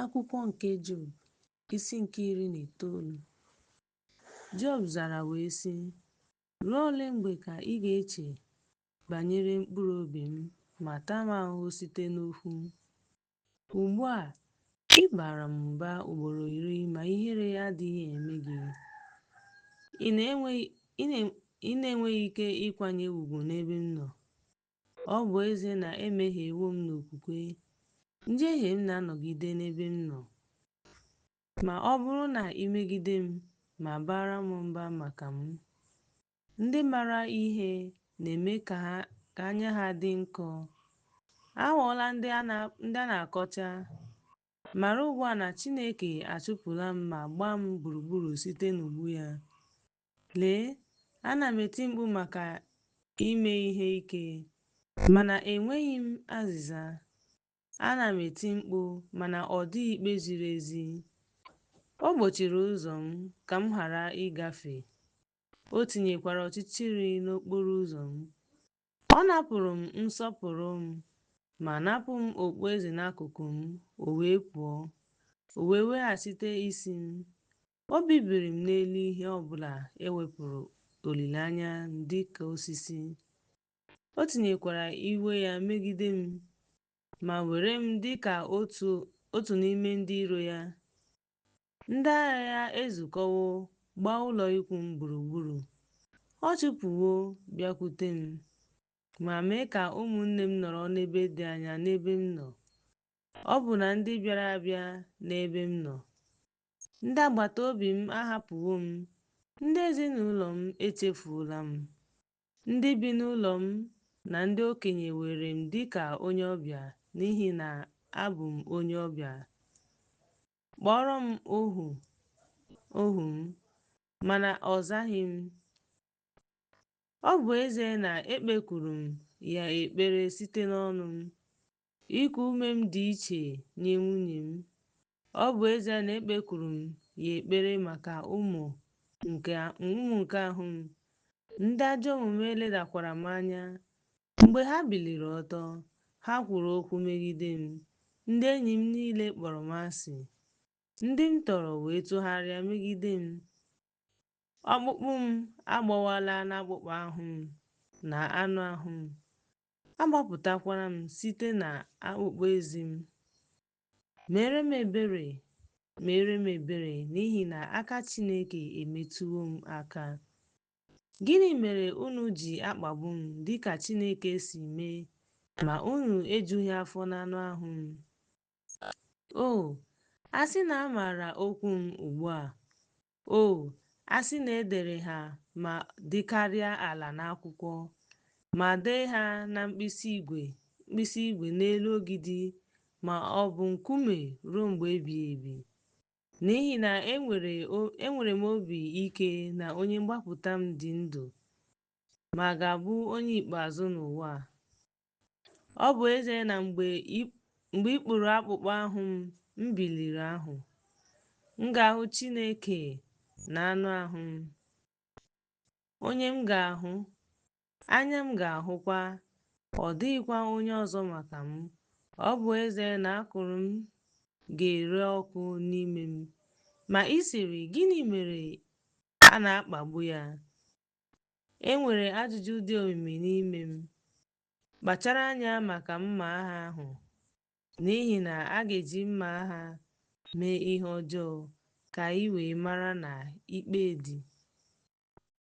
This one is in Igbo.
Akwụkwọ nke Job, isi nke iri na itoolu. Job zara wee sị, Ruo ole mgbe ka ị ga-eche banyere mkpụrụ obi m ma taa m ahụhụ site n'okwu m? Ugbu a, ị bara m mba ugboro iri ma ihere adịghị eme gị. Ị na-enweghị ike ịkwanye ugwu n'ebe m nọ. Ọ bụ ezie na emehiewo m n'okwukwe, njehie m na-anọgide n'ebe m nọ. Ma ọ bụrụ na i megide m ma baara m mba maka m, ndị mara ihe na-eme ka anya ha dị nkọ. Aghọọla ndị a na-akọcha. Mara ugbu a na Chineke achụpụla m ma gbaa m gburugburu site n'ụgbụ ya. Lee, ana m eti mkpu maka ime ihe ike, mana enweghị m azịza. Ana m eti mkpu, mana ọ dịghị ikpe ziri ezi. O gbochiri ụzọ m ka m ghara ịgafe, o tinyekwara ọchịchịrị n'okporo ụzọ m. Ọ napụrụ m nsọpụrụ m ma napụ m okpueze n'akụkụ m, o wee pụọ, o wee weghachite isi m. O bibiri m n'elu ihe ọ bụla e wepụrụ olileanya m dị ka osisi. O tinyekwara iwe ya megide m ma were m dị ka otu n'ime ndị iro ya. Ndị agha ya ezukọwo gbaa ụlọ ikwu m gburugburu. Ọ chụpụwo bịakwute m ma mee ka ụmụnne m nọrọ n'ebe dị anya n'ebe m nọ, ọbụna ndị bịara abịa n'ebe m nọ. Ndị agbata obi m ahapụwo m, ndị ezinụlọ m echefuola m. Ndị bi n'ụlọ m na ndị okenye weere m dị ka onye ọbịa n'ihi na abụ m onye ọbịa. Kpọọrọ m ohu ohu m, mana ọ zaghị m. Ọ bụ ezie na ekpekwuru m ya ekpere site n'ọnụ m, Iku ume m dị iche nye nwunye m. Ọ bụ ezie na ekpekwuru m ya ekpere maka ụmụ nke ahụ m, ndị ajọ omume ledakwara m anya. Mgbe ha biliri ọtọ, ha kwuru okwu megide m, ndị enyi m niile kpọrọ m asị. Ndị m tọrọ wee tụgharịa megide m. Ọkpụkpụ m agbawala n'akpụkpọ ahụ m na anụ ahụ m, Agbapụtakwara m site na akpụkpọ eze m. Meere m ebere, meere m ebere n'ihi na aka Chineke emetụwo m aka. Gịnị mere unu ji akpagbu m dịka Chineke si mee, ma unu ejughị afọ n'anụ ahụ m? O, a sị na a maara okwu m ugbu a, O, a sị na e dere ha ma dịkarịa ala n'akwụkwọ, ma dee ha na mkpịsị igwe n'elu ogidi ma ọ bụ nkume ruo mgbe ebighị ebi! N'ihi na enwere m obi ike na onye mgbapụta m dị ndụ ma ga-abụ onye ikpeazụ n'ụwa a. Ọ bụ ezie na mgbe ikpuru akpụkpọ ahụ m, m biliri ahụ, m ga-ahụ Chineke na anụ ahụ m, onye m ga-ahụ, anya m ga-ahụkwa, ọ dịghịkwa onye ọzọ maka m. Ọ bụ ezie na akụrụ m ga-ere ọkụ n'ime m. Ma ị sịrị, Gịnị mere a na-akpagbu ya? E nwere ajụjụ dị omimi n'ime m. Kpachara anya maka mma agha ahụ, n'ihi na a ga-eji mma agha mee ihe ọjọọ ka i wee mara na ikpe dị.